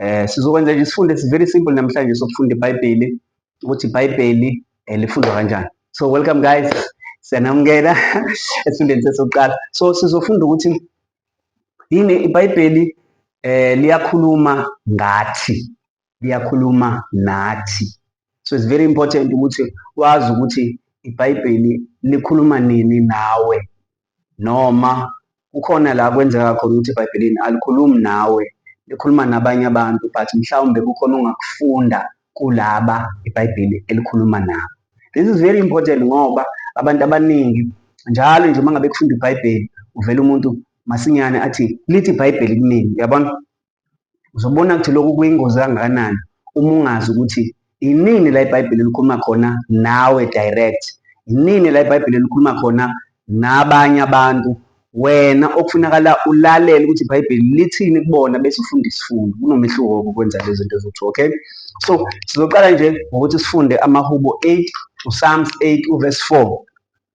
Eh sizokwenza nje isifundo esi very simple namhlanje sokufunda iBhayibheli ukuthi iBhayibheli eh, lifundwa kanjani. So welcome guys. Siyanamukela esifundweni sesokuqala. So sizofunda ukuthi yini iBhayibheli eh liyakhuluma ngathi. Liyakhuluma nathi. So it's very important ukuthi wazi ukuthi iBhayibheli likhuluma nini nawe. noma kukhona la kwenzeka khona ukuthi ebhayibhelini alikhulumi nawe likhuluma nabanye abantu but mhlawumbe kukhona ongakufunda kulaba ibhayibheli elikhuluma nabo this is very important ngoba abantu abaningi njalo nje uma ngabe kufunda ibhayibheli uvela umuntu masinyane athi lithi ibhayibheli kuningi uyabona uzobona ukuthi lokhu kuyingozi kangakanani uma ungazi ukuthi inini la ibhayibheli likhuluma khona nawe direct inini la ibhayibheli likhuluma khona nabanye abantu wena okufunakala ulalele ukuthi ibhayibheli lithini kubona bese ufunda isifundo kunomehluko woku kwenza lezi zinto zothu okay so sizoqala nje ngokuthi sifunde amahubo 8 usalms 8 uverse 4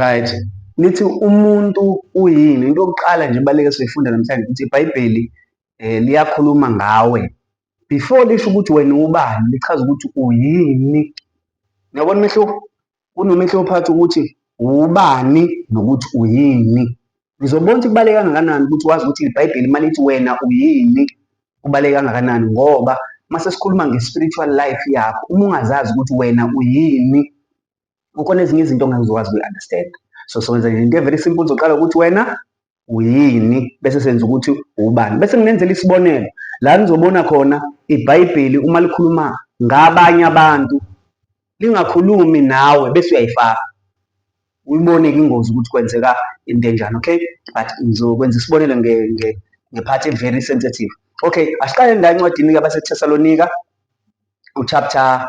right lithi umuntu uyini into yokuqala nje baleke siyifunda namhlanje ukuthi ibhayibheli eh liyakhuluma ngawe before lisho ukuthi wena ubani lichaza ukuthi uyini niyabona umehluko kunomehluko phakathi ukuthi ubani nokuthi uyini ngizobona ukuthi kubaleke kangakanani ukuthi wazi ukuthi ibhayibheli uma lithi wena uyini kubaleke kangakanani ngoba uma sesikhuluma nge-spiritual life yakho uma ungazazi ukuthi wena uyini kukhona ezinye izinto ongangizokwazi ukuyi-understand so sowenza into evele simple uzoqala ukuthi wena uyini bese senza ukuthi ubani bese nginenzela isibonelo la nizobona khona ibhayibheli uma likhuluma ngabanye abantu lingakhulumi nawe bese uyayifaka uyibone ke ingozi ukuthi kwenzeka into enjani okay but ngizokwenza isibonelo ngephathi e-very sensitive okay asiqale la encwadini-ke baseThesalonika uchapter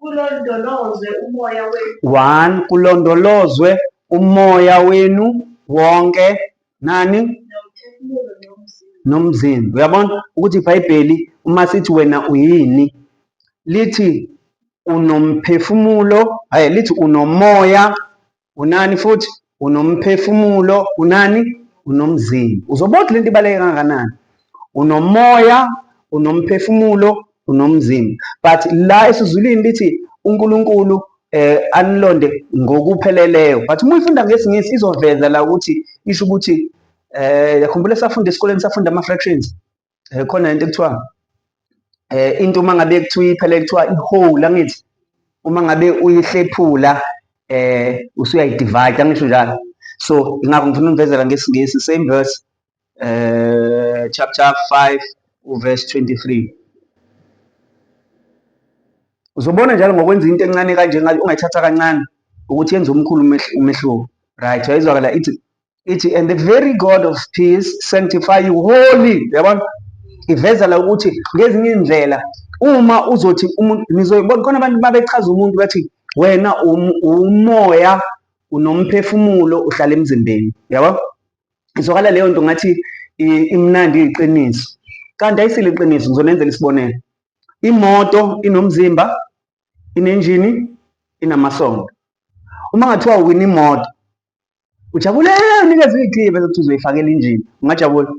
kulondolozwe umoya wenu. One, kulondolozwe umoya wenu wonke nani nomzimba. Uyabona ukuthi iBhayibheli uma sithi wena uyini lithi unomphefumulo, hayi lithi unomoya unani futhi unomphefumulo unani unomzimba uzobona lento ibaleke kangakanani unomoya unomphefumulo unomzimba but la esizulwini lithi uNkulunkulu eh anilonde ngokupheleleyo but uma uyifunda ngesingisi izoveza la ukuthi isho ukuthi eh yakhumbula safunda esikoleni safunda ama fractions eh, khona into ekuthiwa eh into uma ngabe kuthiwa iphele kuthiwa ihole angithi uma ngabe uyihlephula eh usuyayidivide angisho njalo so ingakho ngifuna umvezela ngesingisi same verse eh chapter 5 uverse 23 uzobona njalo ngokwenza into encane kanje ungayithatha kancane ukuthi yenze umkhulu umehluko right yayizwakala ithi ithi and the very god of peace sanctify you holy yabona iveza la ukuthi ngezinye indlela uma uzothi umuntu nizoyibona khona abantu babechaza umuntu bathi wena um-, umoya unomphefumulo uhlala emzimbeni yabo izwakala leyo nto ngathi imnandi iqiniso kanti ayisile iqiniso ngizonenzela isibonelo imoto inomzimba inenjini inamasondo uma ngathiwa uwina imoto Ujabule unikeze uyigqibe bese kuthi uzoyifakela injini. Ungajabula?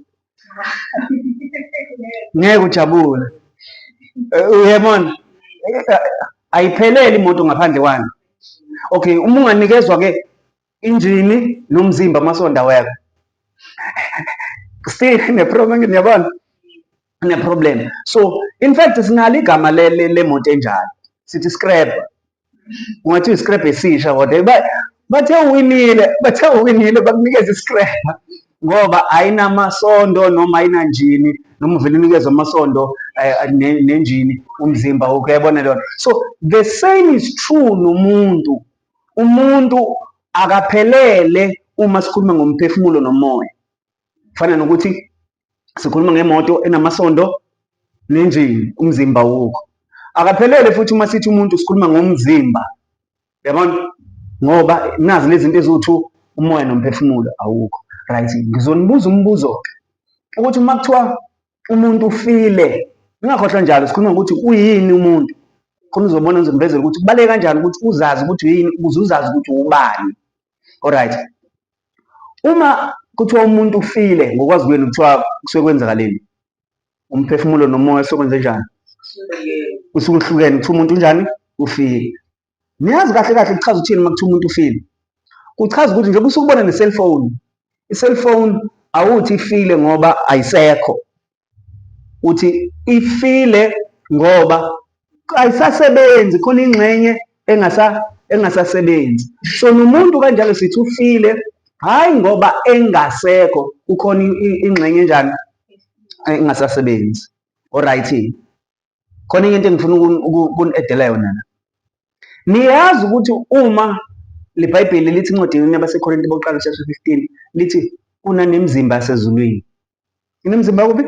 Ngeke ujabule. Eh, uyabona? Ayipheleli imoto ngaphandle kwani. Okay, uma unganikezwa ke injini nomzimba amasonda wekho. Still ne problem ngiyabona. Ne problem. So, in fact sinalo igama le le moto enjalo. Sithi scrap. ungathi i-scrap esisha kodwa ba bathe uwinile bathe uwinile bakunikeza i-scrap ngoba ayinamasondo noma ayinanjini noma uvele unikezwe amasondo eh, nenjini umzimba wokho yabona lona so the same is true nomuntu umuntu akaphelele uma sikhuluma ngomphefumulo nomoya fana nokuthi sikhuluma ngemoto enamasondo nenjini umzimba wokho akaphelele futhi uma sithi umuntu sikhuluma ngomzimba yabona ngoba nazi lezi zinto eziwu-two umoya nomphefumulo awukho right ngizonibuza umbuzo-ke ukuthi uma kuthiwa umuntu ufile ngingakhohlwa njalo sikhuluma ngokuthi uyini umuntu khona uzobona ngizomvezela ukuthi kubaleke kanjani ukuthi uzazi ukuthi uyini ukuze uzazi ukuthi ubani Alright. Uma kuthiwa umuntu ufile ngokwazi kwenu kuthiwa kusuke kwenzakaleni? Umphefumulo nomoya sokwenze njani? Usuke uhlukene kuthiwa umuntu unjani? Ufile. Niyazi kahle kahle kuchaza ukuthini uma kuthiwa umuntu ufile? Kuchaza ukuthi njengoba usukubona ne-cellphone, i-cellphone awuthi ifile ngoba ayisekho. uthi ifile ngoba ayisasebenzi khona ingxenye engasa engasasebenzi so nomuntu kanjalo sithi ufile hhayi ngoba engasekho kukhona ingxenye enjani engasasebenzi oright khona enye into engifuna ukuni-edela yona la niyazi ukuthi uma le bhayibheli lithi incwadini yabasekorinte bokuqala chapter 15 lithi kunanemzimba yasezulwini inemzimba kuphi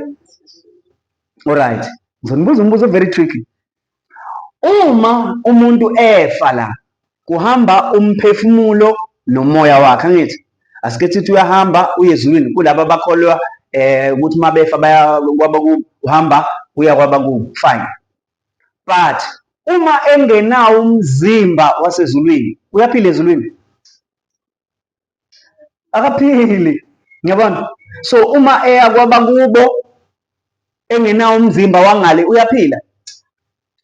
olright ngizonibuza umbuzo very tricky uma umuntu efa la kuhamba umphefumulo nomoya wakhe angithi asike sithi uyahamba uye ezulwini kulaba abakholwa eh ukuthi uma befa baya kwabakubo uhamba uya kwabakubo fine but uma engenawo umzimba wasezulwini uyaphila ezulwini akaphili ngiyabona so uma eya kwabakubo engenawo umzimba wangale uyaphila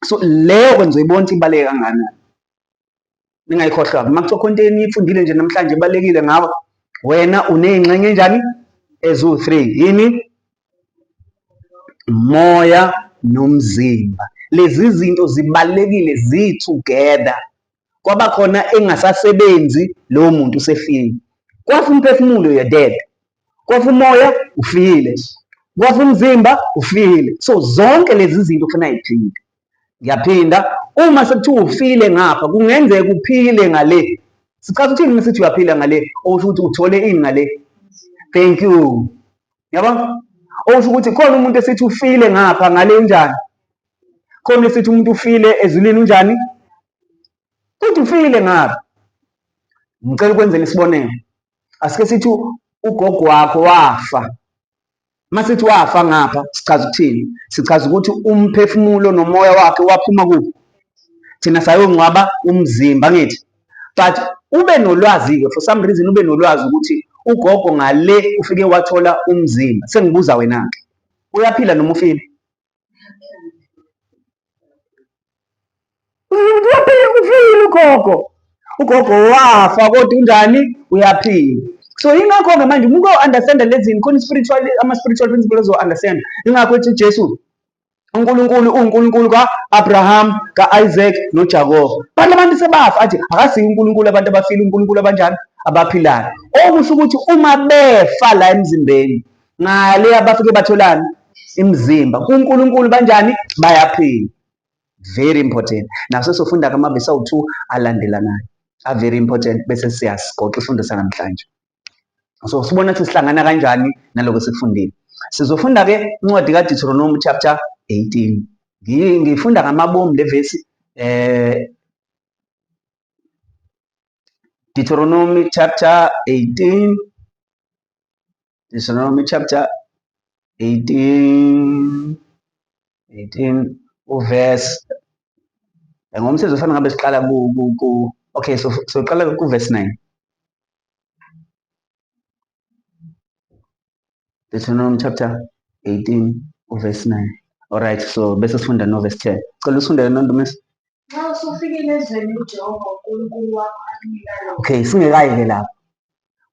so leyo kwenza uyibona ukuthi ibaluleke kangakanani ningayikhohlwa uma kuthiwa khona into eniyifundile nje namhlanje ibalulekile ngawe wena uney'ngxenye enjani eziwu-three yini moya nomzimba lezi zinto zibalulekile zi-together kwaba khona engasasebenzi lowo muntu usefile kwafa umphefumulo you're dead kwafa umoya ufile kwafa umzimba ufile so zonke lezi zinto ufuna yiphinde ngiyaphinda uma sekuthiwa ufile ngapha kungenzeka uphile ngale sichaza ukuthini uma sithi uyaphila ngale okusho ukuthi uthole ini ngale thank you yabo okusho ukuthi khona umuntu esithi ufile ngapha ngale njani khona sithi umuntu ufile ezulwini unjani uthi ufile ngabe ngicela ukwenzela isibonelo asike sithi ugogo wakho wafa masithi wafa ngapha sichaza ukuthini sichaza ukuthi umphefumulo nomoya wakhe waphuma kuphi thina sayongcwaba umzimba ngithi but ube nolwazi-ke for some reason ube nolwazi ukuthi ugogo ngale ufike wathola umzimba sengibuza wena-ke uyaphila noma ufile uyaphila uphile ugogo ugogo wafa kodwa unjani uyaphila so yingakho-ke manje umuntu o-understanda lezi zinto khona i-spiritual ama-spiritual principle ozo-understanda yingakho ethi ujesu uNkulunkulu uNkulunkulu ka-Abraham ka-Isaac noJakobe bantu abantu sebafa athi akasiyi uNkulunkulu abantu abafile uNkulunkulu abanjani abaphilayo okusho ukuthi uma befa la emzimbeni ngaleya bafike batholani imizimba kuNkulunkulu banjani bayaphila very important naso sofunda kamabesi awu-2 alandelanayo a very important bese siyasigoqa isifundo sanamhlanje so sibona ukuthi sihlangana kanjani naloko sikufundile sizofunda ke incwadi kaDeuteronomy chapter 18 ngifunda ngamabomu levesi eh Deuteronomy chapter 18 Deuteronomy chapter 18 18 uverse ngomsebenzi ofana ngabe siqala ku ku okay so soqala ku verse 9 Deuteronomy chapter 18 uverse 9 all right so bese sifunda no verse 10 cela ufunde lento ntomisi nxa usufikile ezweni ujehova unkulunkulu wakho akunika lona okay singekayi ke lapho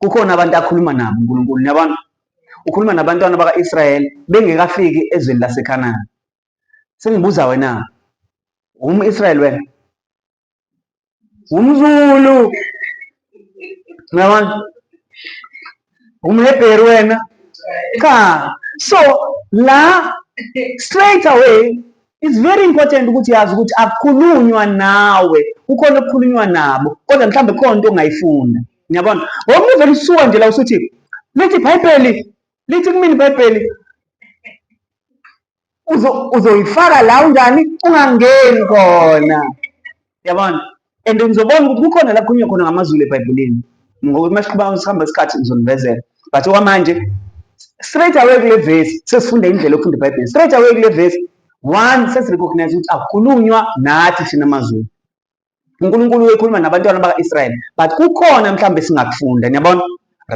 kukhona abantu akhuluma nabo uNkulunkulu niyabona ukhuluma nabantwana baka-Israyeli bengekafiki ezweni laseKhanani sengibuza wena umu-Israyeli wena umZulu niyabona umHebheru wena cha so la straight away it's very important ukuthi yazi ukuthi akukhulunywa nawe kukhona okukhulunywa nabo kodwa mhlawumbe khona into ongayifunda Ngiyabona. Ngoba uvele usuka nje la usuthi lithi iBhayibheli lithi kumina iBhayibheli uzoyifaka la unjani ungangeni khona. Yabona? And ngizobona ukuthi kukhona la kukhulunywa khona ngamazulu eBhayibhelini. Ngoba uma siqhuba sihamba isikhathi ngizonivezela. But okwamanje straight away kule verse sesifunda indlela yokufunda iBhayibheli. Straight away kule verse one sesirecognize ukuthi akukhulunywa nathi thina maZulu. uNkulunkulu uyekhuluma nabantwana baka-Israyeli but kukhona mhlawumbe singakufunda niyabona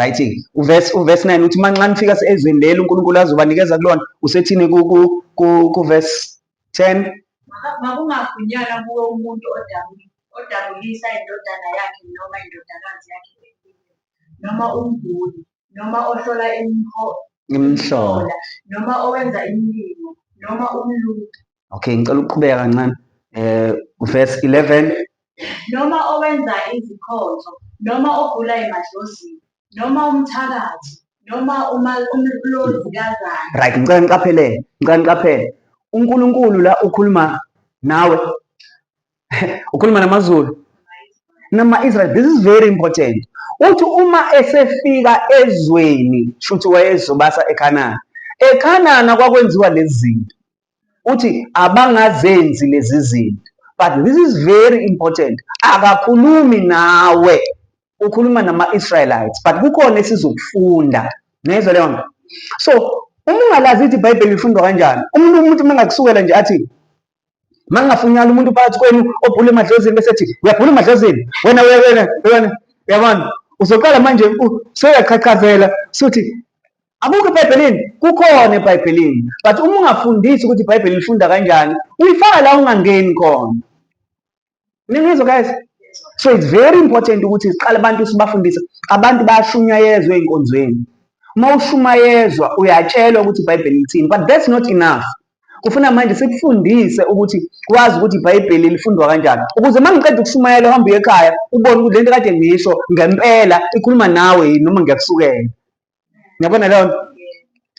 right uverse uverse 9 uthi manxa nifika ezweni leli uNkulunkulu azobanikeza kulona usethini ku ku ku verse 10 makungafunyanwa kuwe umuntu odabula odabulisa indodana yakhe noma indodakazi yakhe noma umguli noma ohlola imihlola noma owenza imilimo noma umlungu okay ngicela ukuqhubeka kancane eh verse 11 noma owenza izikhonzo noma ogula emadlozini noma umthakathi noma uma umloli kazana right ngicela niqaphele ngicela niqaphele uNkulunkulu la ukhuluma nawe ukhuluma namaZulu nama Israel this is very important uthi uma esefika ezweni shuthi wayezobasa eKhanana eKhanana kwakwenziwa lezi zinto uthi abangazenzi lezi zinto but this is very important akakhulumi nawe ukhuluma nama-israelites but kukhona esizokufunda ngezwa leyo nto so uma ungalazi ithi ibhayibheli lifundwa kanjani umuntu umuntu uma ngakusukela nje athi uma ngingafunyala umuntu phakathi kwenu obhula emadlozini bese ethi uyabhula emadlozini wena wena wena yabona uzoqala manje seyaqhaqhazela suthi Akukho eBhayibhelini, kukhona eBhayibhelini. But uma ungafundisi ukuthi iBhayibheli lifunda kanjani, uyifaka la ungangeni khona. Ningizwa guys? So it's very important ukuthi siqale abantu sibafundise. Abantu bayashunyayezwa ezinkonzweni. Uma ushumayezwa uyatshelwa ukuthi iBhayibheli lithini, but that's not enough. Kufuna manje sikufundise ukuthi wazi ukuthi iBhayibheli lifundwa kanjani. Ukuze uma ngiqeda ukushumayela uhambe uye ekhaya ubone ukuthi lento kade ngisho ngempela ikhuluma nawe yini noma ngiyakusukela. Ngiyabona leyo nto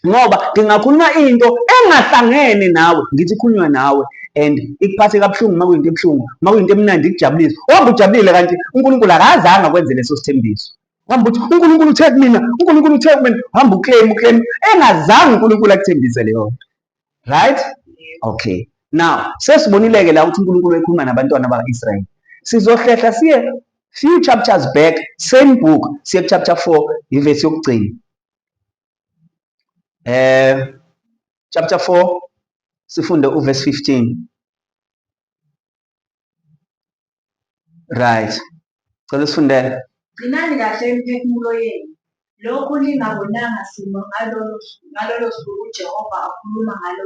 ngoba ngingakhuluma into engahlangene nawe ngithi ikhulunywa nawe and ikuphathe kabuhlungu uma kuyinto ebuhlungu uma kuyinto emnandi ikujabulise wambe ujabulile kanti unkulunkulu akazange akwenze leso sithembiso wambe uthi unkulunkulu uthe kumina unkulunkulu uthe kumina wambe uclaim uclaim engazange unkulunkulu akuthembise leyo nto right okay now sesibonileke la ukuthi uNkulunkulu ekhuluma nabantwana bakaIsrayeli sizohlehla siye few chapters back same book siye chapter 4 ivesi yokugcina eh chapter 4 sifunde uverse 15 right cela usifundele gcinani kahle imiphefumulo yenu lokhu ningabonanga simo ngalolo suku ujehova akhuluma ngalo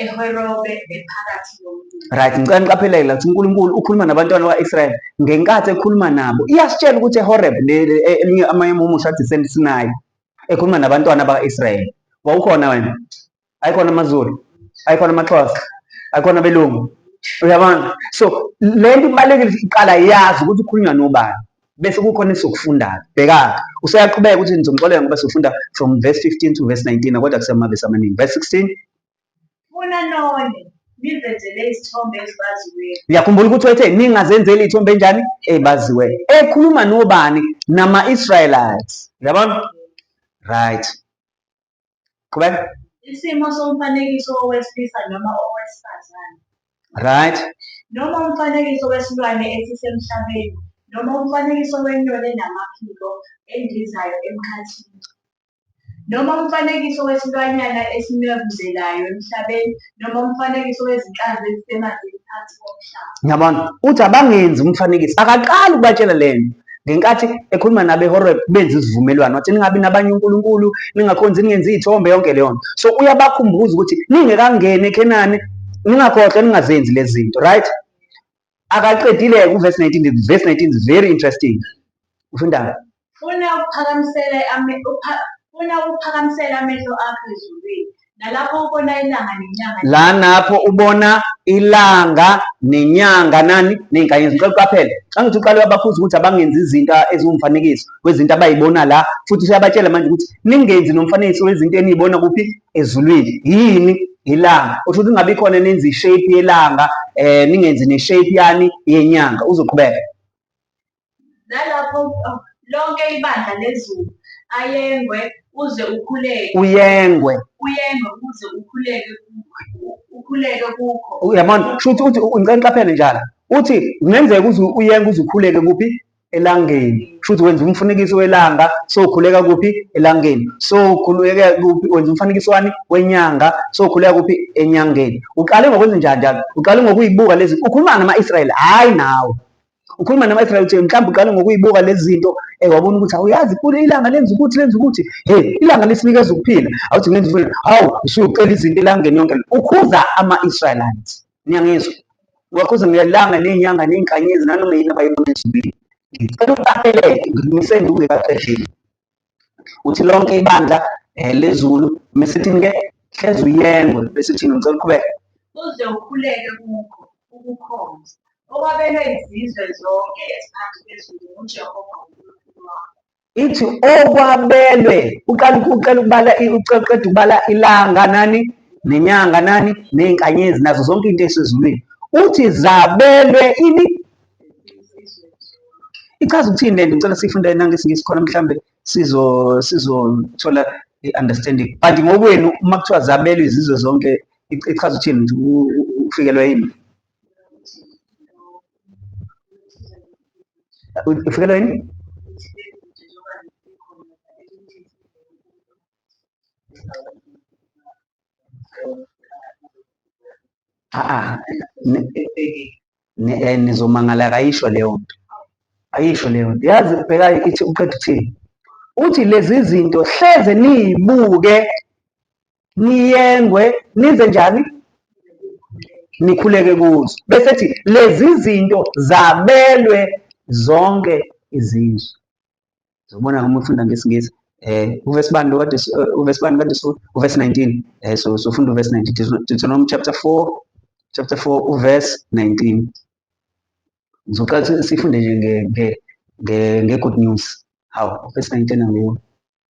eherobe ephakathi nomndeni right ngicela niqaphelele ukuthi unkulunkulu ukhuluma nabantwana bakwa-israyeli ngenkathi ekhuluma nabo iyasitshela ukuthi ehoreb eminye amanye amumusho athi sensinayi ekhuluma nabantwana bakwa-israyeli wawukhona wena ayikhona amazulu ayikhona amaxhosa ayikhona abelungu uyabona so le nto ibalulekile iqala yazi ukuthi ukhulunywa nobani bese kukhona esokufundayo bhekaka useyaqhubeka ukuthi ngizomxolela ngoba sifunda from verse 15 to verse 19 kodwa kusemavesi amaningi verse 16 funa none nizenzele izithombe ezibaziweyo ngiyakhumbula ukuthi wethe ningazenzeli iy'thombe enjani ezibaziweyo ekhuluma nobani nama-israelites uyabona right qhubeka isimo somfanekiso owesilisa noma owesifazane right noma umfanekiso wesilwane esisemhlabeni noma umfanekiso wenyoni enamaphiko endizayo emkhathini noma umfanekiso wesilwanyana esinwebuzelayo emhlabeni noma umfanekiso wezinhlanzi ezisemanzini phansi komhlaba. Ngiyabona. Uthi abangenzi umfanekiso. Akaqali ukubatshela le nto. Ngenkathi ekhuluma nabeHoreb benza isivumelwano wathi ningabi nabanye uNkulunkulu, ningakhonzi ningenzi izithombe yonke leyo nto. So uyabakhumbuza ukuthi ningekangeni eKhenani ningakhohlwa ningazenzi lezi zinto, right? akaqedile-ke uvesi 19 vesi 19 is very interesting ufundani funa ukuphakamisela funa ukuphakamisela amehlo akho ezulwini nalapho ubona ilanga nenyanga la napho ubona ilanga nenyanga nani ney'nkanyezi ngicela uqaphele xa ngithi uqale wabakhuza ukuthi abangenzi izinto eziwumfanekiso wezinto abayibona la futhi useyabatshela manje ukuthi ningenzi nomfanekiso wezinto eniyibona kuphi ezulwini yini ilanga usho ukuthi ingabe ikhona nenza ishape yelanga eh ningenzi neshape yani yenyanga uzoqhubeka nalapho oh, lonke ibandla lezulu ayengwe uze ukhuleke uyengwe uyengwe uze ukhuleke ukhuleke kukho uyabona shuthi uthi ngicela ngiqaphele njalo uthi kungenzeka uze uyengwe uze ukhuleke kuphi elangeni futhi wenza umfanekiso welanga sokhuleka kuphi elangeni sokhuleka kuphi wenza umfanekiso wani wenyanga sokhuleka kuphi enyangeni uqale ngokwenza njani njalo uqale ngokuyibuka lezi ukhuluma nama-israyeli hhayi nawe ukhuluma nama-israyeli uthi mhlawumbe uqale ngokuyibuka lezi zinto um wabona ukuthi awuyazi kule ilanga lenza ukuthi lenza ukuthi he ilanga lisinikeza ukuphila awuthi ngenza hawu usucela izinto elangeni yonke ukhuza ama-israyelites Niyangizwa? Ngakho ngelanga nenyanga ney'nkanyezi nanoma yini abayibona ezulwini. Ngicela ukubakeleke ngimise nduke kaqedile. Uthi lonke ibandla um lezulu mesithini-ke hlezi uyengwe bese uthini ngicela uqhubeke. Uze ukhuleke kukho ukukhonza okwabelwe izizwe zonke eziphansi kwezulu nguJehova uNkulunkulu wakho. ithi okwabelwe uqala uqala ukubala uqeda ukubala ilanga nani nenyanga nani ney'nkanyezi nazo zonke into esezulwini uthi zabelwe ini ichaza ukuthini le nto ngicela siyifunde nangesingisi khona mhlawumbe sizo sizothola i-understanding but ngokwenu uma kuthiwa zabelwe izizwe zonke ichaza ukuthini ufikelwa yini Ufikelwa yini? Ah, eh, nizomangala akayisho leyo nto ayisho leyo nto yazi bheka ithi uqeda uthini uthi lezi zinto hleze niyibuke niyengwe nize njani nikhuleke kuzo bese ethi lezi zinto zabelwe zonke izizwe zobona uma ufunda ngesingisi eh uverse bani lo kade eh, uverse bani kade so uverse 19 eh so so funda uverse 19 Deuteronomy chapter 4 chapter 4 uverse 19 ngizoqala sifunde nje nge nge nge good news hawu uverse 19 angiyo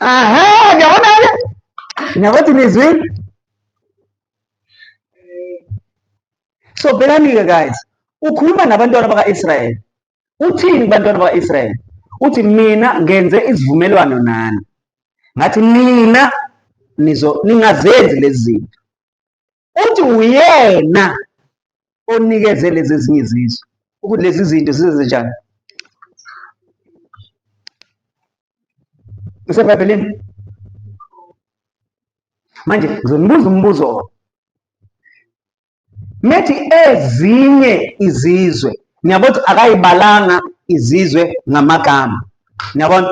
Aha, ngiyabona ke. Ngiyabathi nizwile. So bhekani ke guys, ukhuluma nabantwana baka-Israyeli. Uthini kubantwana baka-Israyeli? Uthi mina ngenze isivumelwano nani. Ngathi nina nizo ningazenzi lezi zinto. Uthi uyena onikeze lezi ezinye izizwe ukuthi lezi zinto zizenze njani. Isebhayibhelini. Manje ngizonibuza umbuzo methi ezinye izizwe niyabo ukuthi akayibalanga izizwe ngamagama niyabona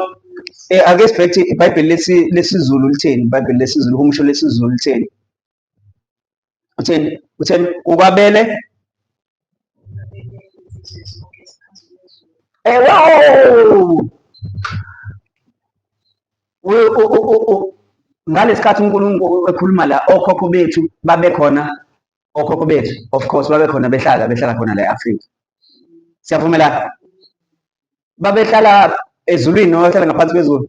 eh, ake sibheke ibhayibheli lesizulu litheni ibhayibheli lesizulu uhumusho lesizulu litheni utheni utheni ukwabele ewo ngalesikhathi uNkulunkulu ekhuluma la okhokho bethu babekhona okhokho bethu of course babekhona behlala behlala khona la e-Afrika siyavumelana babehlala ezulwini noma bahlala ngaphansi kwezulu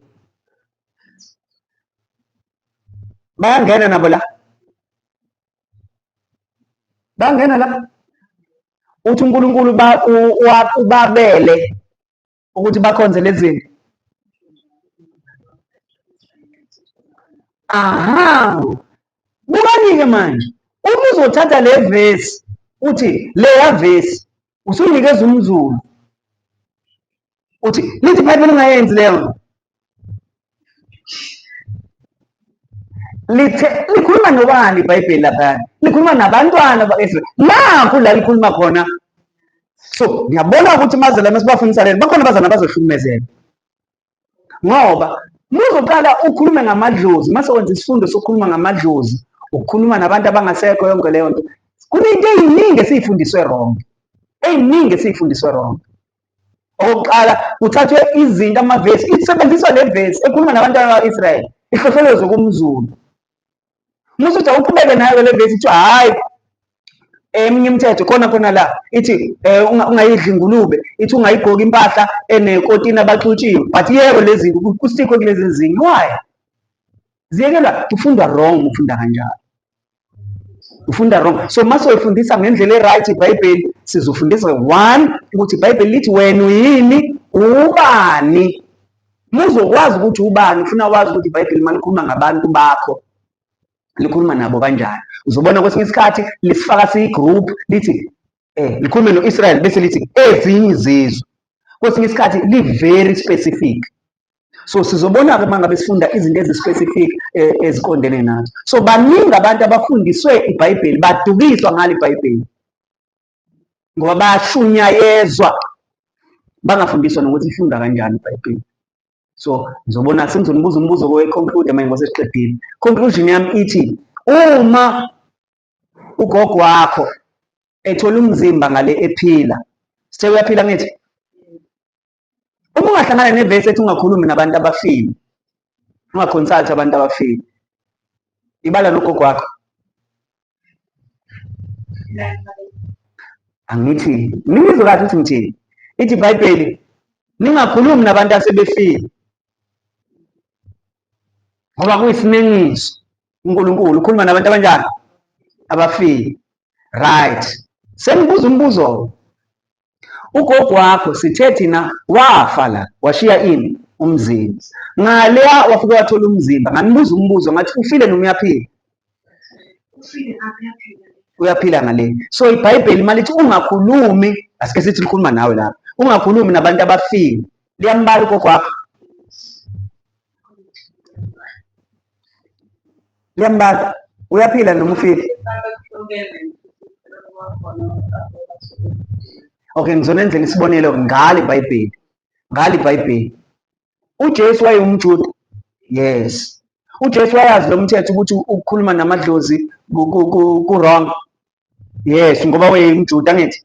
bayangena nabo la bangena la uthi uNkulunkulu ubabele ukuthi bakhonze lezinto aha bukanike manje uma uzothatha le vesi uthi leya vesi usunikeza umzulu uthi lithi ibhayibheli ungayenzi leyo nto lithe likhuluma nobani ibhayibheli laphana likhuluma nabantwana bakaisrael nakhu la likhuluma khona so ngiyabona ukuthi mazalana sibafundisa lena bakhona abazana bazohlukumezeka ngoba muzoqala ukhulume ngamadlozi mase wenza isifundo sokukhuluma ngamadlozi ukukhuluma nabantu abangasekho yonke leyo nto kunento eyiningi esiyifundiswe wrong eyiningi esiyifundiswe wrong okokuqala kuthathwe izinto amavesi isebenziswa le vesi ekhuluma nabantu bakwa-israyeli ihlohlolozwe kumzulu Musuthi awuqhubeke nayo le vesi kuthiwa hhayi eminye imithetho khona khona la ithi eh, um ungayidli ingulube ithi ungayigqoki impahla enekotini abaxutshiwe but yebo lezi kusikho kulezi zinga why ziyekelwa kufundwa wrong ufunda kanjalo ufunda wrong so mase uyifundisa ngendlela e-right ibhayibheli sizofundisa one ukuthi ibhayibheli lithi wena uyini ubani Muzokwazi ukuthi ubani ufuna wazi ukuthi iBhayibheli malikhuluma ngabantu bakho likhuluma nabo kanjani. Uzobona kwesinye isikhathi lisifaka siyi-group lithi eh likhulume no-Israel bese lithi ezinye izizwe. Kwesinye isikhathi li-very specific. So sizobona-ke uma ngabe sifunda izinto ezi-specific eh, eziqondene nazo. So baningi abantu abafundiswe iBhayibheli badukiswa ngalo iBhayibheli. ngoba bayashunyayezwa bangafundiswa nokuthi ifunda kanjani ibhayibheli so ngizobona sengizonibuza umbuzo kowe-conclude manje ngoba sesiqedile conclusion yami ithi uma ugogo wakho ethola umzimba ngale ephila sewuyaphila ngithi uma ungahlangana nevesi ethi ungakhulumi nabantu abafile ungaconsulti abantu abafile ibala nogogo wakho angithi ningizwe kahle ukuthi ngithini ithi ibhayibheli ningakhulumi nabantu asebefile ngoba kuyisinengiso unkulunkulu ukhuluma nabantu abanjani abafile right sengibuza umbuzo ugogo wakho sithe thina wafa la washiya ini umzimba ngaleya wafike wathola umzimba nganibuza umbuzo ngathi ufile noma uyaphila uyaphila ngale so ibhayibheli malithi ungakhulumi asike sithi likhuluma nawe lapha ungakhulumi nabantu abafile liyambala ugogo wakho Liyambaza. Uyaphila noma ufile? Okay, ngizonenzela isibonelo ngale Bhayibheli. Ngale Bhayibheli. UJesu wayewumJuda. Yes. UJesu wayazi lo mthetho ukuthi ukukhuluma namadlozi ku-wrong. yes ngoba wayeyimjuda angithi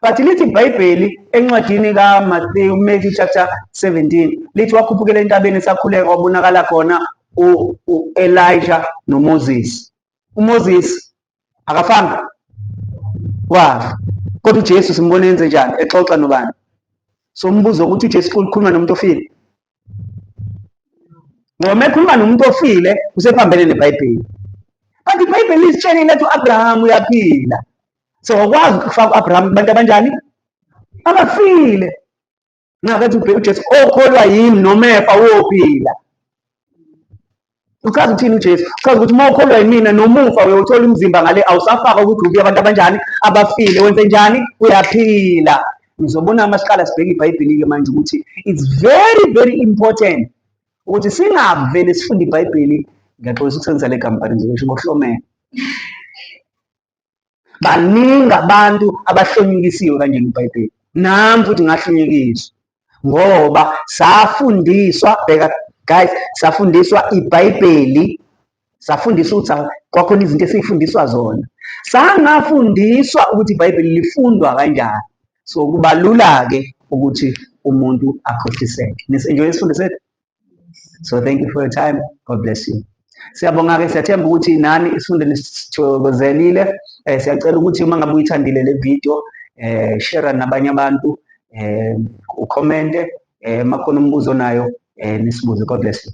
but lithi ibhayibheli encwadini kamathewu matthew chapter 17 lithi wakhuphukela entabeni esakhuleka wabonakala khona u-elija nomoses umoses akafanga wafa kodwa ujesu simbona enze njani exoxa nobani so umbuzo ukuthi ujesu ukhuluma nomuntu ofile ngoba uma ekhuluma nomuntu ofile usephambene nebhayibheli but ibhayibheli lisitshelile ethi u-abrahamu uyaphila so wakwazi ukufaka u-abrahamu kubantu abanjani abafile nxakathi ubheka ujesu okholwa yimi nomefa wophila Uchaza ukuthini uJesu? Uchaza ukuthi uma ukholwa yimina nomufa uyothola umzimba ngale awusafaka ukuthi ubuye abantu abanjani abafile wenze njani uyaphila. Ngizobona uma siqala sibheke iBhayibheli-ke manje ukuthi it's very very important ukuthi singavele sifunde iBhayibheli ngiyaxolisa ukusebenzisa le kampani nje ngisho ngohlomela. baningi abantu abahlonyukisiwe kanjena ibhayibheli nami futhi ngahlonyukiswa ngoba safundiswa bheka guys safundiswa ibhayibheli safundiswa ukuthi kwakhona izinto esifundiswa zona sangafundiswa ukuthi ibhayibheli lifundwa kanjani so kubalula-ke ukuthi umuntu akhohliseke nisenjoye isifundo sethu so thank you for your time god bless you siyabonga-ke siyathemba ukuthi nani isifundo nisithokozelile um siyacela ukuthi uma ngabe uyithandile le video um share nabanye abantu um ukhomente um makhona umbuzo nayo um nisibuze god bless you